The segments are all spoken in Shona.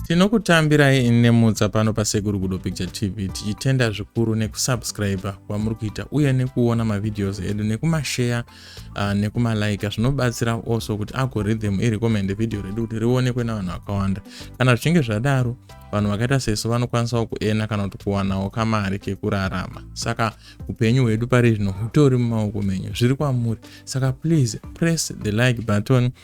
Tinokutambirai nemutsa pano paSekuru Gudo Picture TV tichitenda zvikuru nekusubscribe kwamuri kuita uye nekuona mavideos edu nekumashare uh, nekumalike zvinobatsira also kuti algorithm irecommend video redu kuti rionekwe navanhu vakawanda. Kana zvichinge zvadaro vanhu vakaita sesu vanokwanisawo kuena kana kuti kuwanawo kamari kekurarama. Saka upenyu hwedu pari zvino hutori mumaoko menyu zviri kwamuri. Saka please press the like button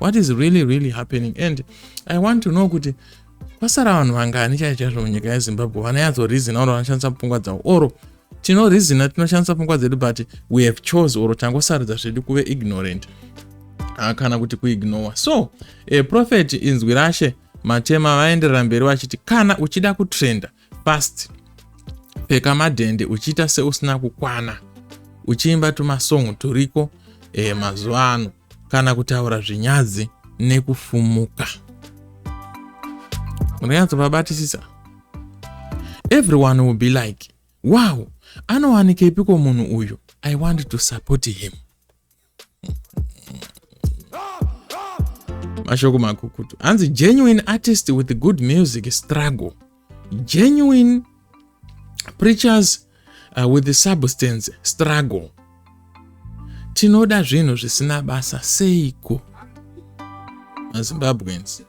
what is really really happening and i want to know kuti kwasara vanhu vangani chai chaizvo munyika yezimbabwe vanayatso reason or vanoshandisa pfungwa dzavo or tino reason tinoshandisa pfungwa dzedu but we have chose or tangosarudza zvedu kuve ignorant ah, kana kuti kuignore so a prophet inzwi rashe matema vaenderera mberi vachiti kana uchida kutrenda fast pfeka madhende uchiita seusina kukwana uchiimba tumasong turiko e, mazuva ano kana kutaura zvinyadzi nekufumuka munonyatsovabatisisa everyone will be like wow anowanikepiko munhu uyu i want to support him mashoko makukutu hanzi genuine artist with good music struggle genuine preachers uh, with the substance struggle tinoda zvinhu zvisina basa seiko mazimbabweans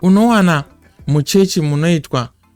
unowana muchechi munoitwa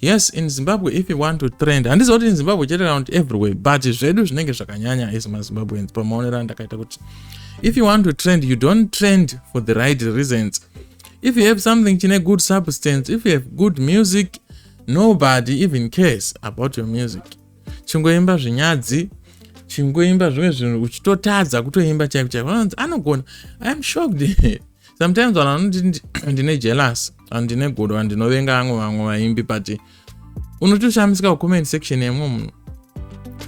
yes in zimbabwe if you want to trend handiziva kuti in zimbabwe chete kana kuti everywhere but zvedu zvinenge zvakanyanya as mazimbabweans pamaonero andakaita kuti if you want to trend you don't trend for the right reasons if you have something chine good substance if you have good music nobody even cares about your music chingoimba zvinyadzi chingoimba zvimwe zvinhu uchitotadza kutoimba chaiko chaiko anogona iam shocked sometimes vanhu vanoti ndine jealous and ndine godo and ndinovenga vamwe vamwe vaimbi but unotoshamisika kucomment section yemwe munhu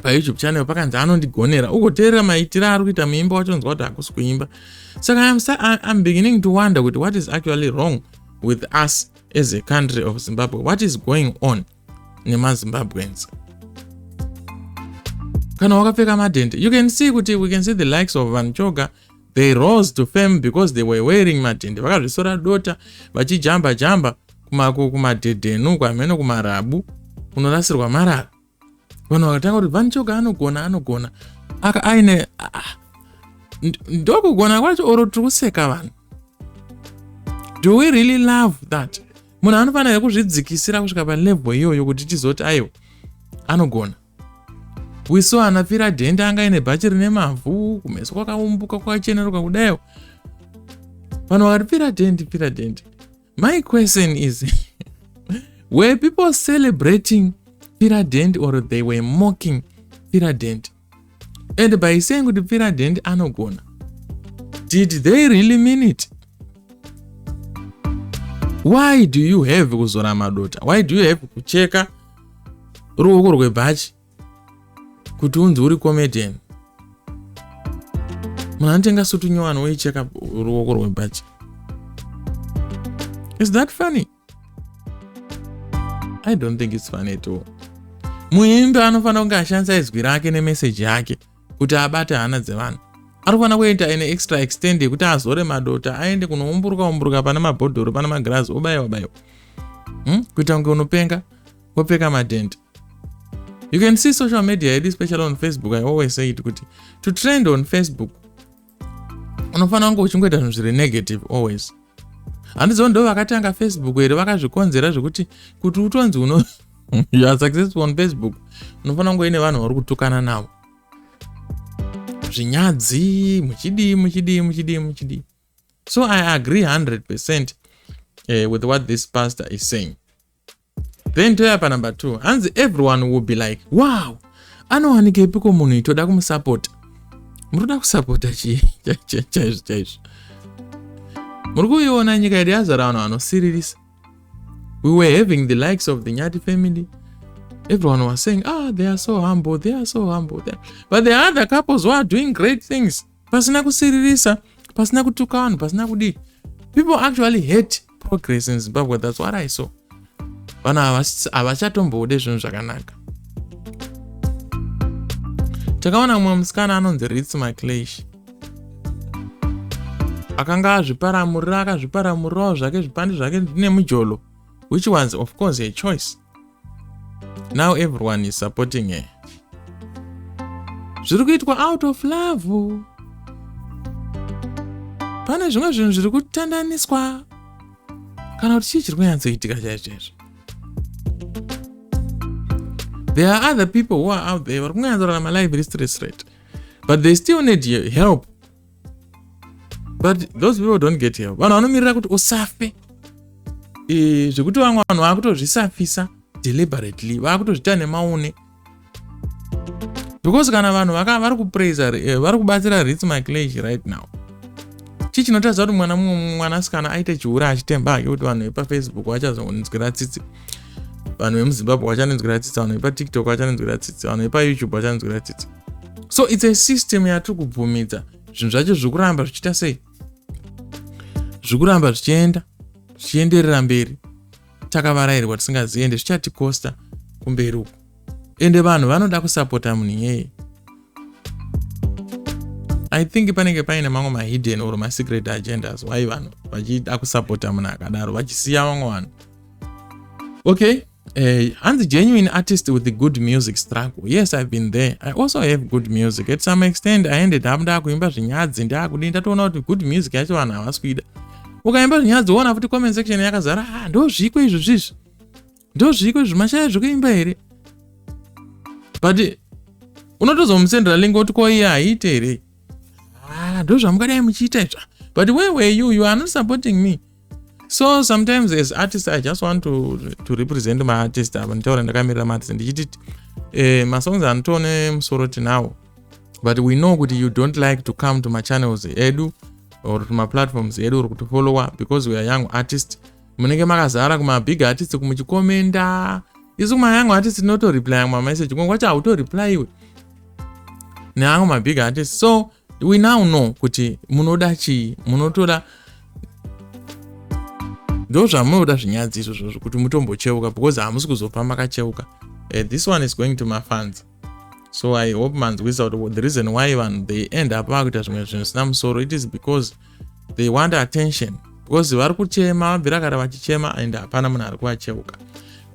payoutube channel pakanzi anondigonera ugoteerera maitiro ari kuita muimba wachonzwa kuti hakusi kuimba saka I'm, I'm beginning to wonder kuti what is actually wrong with us as a country of zimbabwe what is going on nemazimbabweans kana wakapfeka madhende you can see kuti we can see the likes of vanhu choga they rose to fame because they were wearing madhende vakazvisora dota vachijamba jamba kumadhedhenu kwamheno kumarabu kunorasirwa marara vanhu vakatanga kuti vanhu choga anogona anogona aka aine ndokugona kwacho oro tiri kuseka vanhu do we really love that munhu anofanira kuzvidzikisira kusvika palevel iyoyo kuti tizoti aiwa anogona wiso ana pfira dhende anga ine bhachi rine mavhu kumeso kwakaumbuka kwakacheneruka kudayo vanhu vakati pfira dhende pfira dhende my question is were people celebrating pfira dhende or they were mocking pfira dhende and by saying kuti president anogona did they really mean it why do you have kuzora madota why do you have kucheka ruoko rwebhachi kuti unzi uri comedian munhu anotenga sutu nyowani woicheka ruoko rwebhachi is that funny i don't think its funny at all muimbi anofanira kunge ashandisa izwi rake nemeseji yake kuti abate hana dzevanhu ari kufanira kuita ine extra extend yekuti azore madota aende kunoumburuka umburuka pane mabhodhoro pane magirazi obayiwa bayiwa hmm? kuita kunge unopenga wopfeka madhende you can see social media yedu especially on facebook i always say it kuti to trend on facebook unofanira kunge uchingoita zvinhu zviri negative always handizivo ndo vakatanga facebook here vakazvikonzera zvekuti kuti utonzi uno youare successful on facebook unofanira kunge ine vanhu vari kutukana navo zvinyadzi muchidii muchidii muchidii muchidii so i agree 100 percent uh, with what this pastor is saying then toya panumber two hanzi everyone will be like wow anowanigeipiko munhu itoda kumusapota muroda kusapota chii chaizvo chaizvo muri kuiona nyika yedu yazara vanhu vanosiririsa we were having the likes of the nyati family everyone was saying ah they are so humble they are so humble but the other couples were doing great things pasina kusiririsa pasina kutuka vanhu pasina kudii people actually hate progress in zimbabwe thats what i saw vanhu havachatombode zvinhu zvakanaka takaona mumwe musikana anonzi rits maclash akanga azviparamurira akazviparamurirawo zvake zvipandi zvake nemujolo which was of course a choice now everyone is supporting her zviri kuitwa out of love pane zvimwe zvinhu zviri kutandaniswa kana kuti chii chiri kunyatsoitika chaicho chaizvo there are other people who are out there vari kunyatsorarama live restresret but they still need help but those people don't get help vanhu vanomirira kuti usafe e, zvekuti vamwe vanhu vakutozvisafisa deliberately vakutozvita nemaune because kana vanhu vaka vari kupraise eh, vari kubatsira rits miclage right now chii chinotaridza kuti mwana mumwe mwanasikana aite chihure achitemba hake kuti vanhu vepafacebook vachazonzwira tsitsi vanhu vemuzimbabwe vachanonzwira tsitsi vanhu vepatiktok vachanonzwira tsitsi vanhu vepayoutube vachanonzwira tsitsi so its a system yatiri kubvumidza zvinhu zvacho zvikuramba zvichiita sei zvikuramba zvichienda zvichienderera mberi takavarairwa tisingazivi ende zvichatikosta kumberi uku ende vanhu vanoda kusapota munhu iyeye i think panenge paine mamwe mahidden or masecret agendas why vanhu vachida kusapota munhu akadaro vachisiya vamwe vanhu okay uh, hanzi genuine artist with good music struggle yes i've been there i also have good music at some extent i ended up ndaakuimba zvinyadzi ndaakudii ndatoona kuti good music yacho vanhu havasi kuida ukaimba zvinyadzi woona futi comment section yakazara ha ah, ndozviko izvi zvizvi ndozviko izvi mashaya zvekuimba here but unotozomusendera lingo kuti ko iye haiite here ah, ndozvamukadai muchiita izva but where were you you are not supporting me so sometimes as artist i just want to, to represent my artist ava nditaura ndakamirira maartist ndichiti eh, masongs anotone musoro tinawo but we know kuti you don't like to come to machannels edu or to maplatforms edu or kutifollowa because weare young artist munenge makazara kumabig artist kumuchikomenda isu kumayoung artist tinotoreply amwe mameseji kunge kwacho hautoreply iwe neamwe mabig artist so we now know kuti munoda chii munotoda ndo zvamunoda zvinyadzi izvozvo zvekuti mutombocheuka because hamusi kuzofa makacheuka uh, this one is going to mafans so i hope manzwisa kuti the reason why vanhu they end up vakuita zvimwe zvinhu zvisina musoro it is because they want attention because vari kuchema vabvira kare vachichema and hapana munhu ari kuvacheuka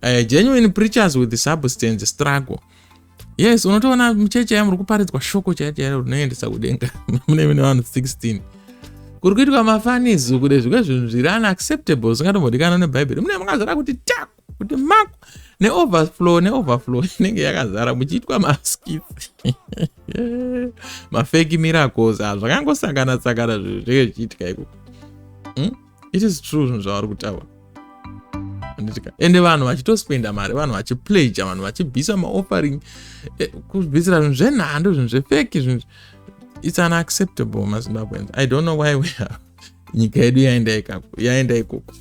uh, genuine preachers with substance struggle yes unotoona mucheche yamuri kuparidzwa shoko chaiyo chaiyo rinoendesa kudenga mune mine vanhu 16 kuri kuitwa mafanizu kude zvimwe zvinhu zviri unacceptable zvingatombodikana nebhaibheri mune makazara kuti taku kuti maku neoverflow neoverflow inenge yakazara muchiitwa maskit mafeki miracles a ah, zvakangosangana tsangana zvinhu zvenge zvichiitika iko hmm? it is true zvinhu zvavari kutaura anditika ende vanhu vachitospenda mari vanhu vachipleja vanhu vachibisa maoffering eh, kubisira zvinhu zvenhando zvinhu zvefeki zvinhu its unacceptable mazimbabweans i don't know why we are nyika yedu yaenda ikoko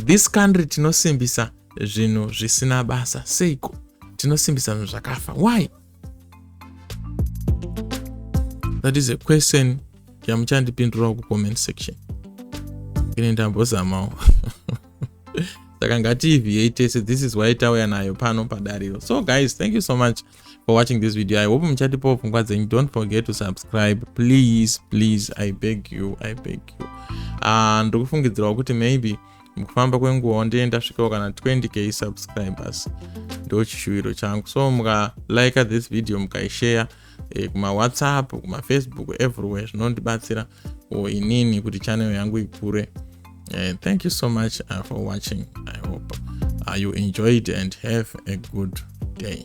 this country tinosimbisa zvinhu zvisina basa seiko tinosimbisa zvinhu zvakafa why that is a question yamuchandipindurawo kucomment section ini ndambozamawo saka ngatiivhiyei tese this is why tauya nayo pano padariro so guys thank you so much for watching this video i hope muchatipawo pfungwa dzenyu don't forget to subscribe please please i beg you i beg you uh, ah, ndokufungidzirawo kuti maybe mukufamba kwenguva wandee ndasvikawo kana 20k subscribers ndo chishuwiro changu so mukalike this video mukaishare e, eh, kumawhatsapp kumafacebook everywhere zvinondibatsira o inini kuti channel yangu ikure e, thank you so much uh, for watching i hope uh, you enjoyed and have a good day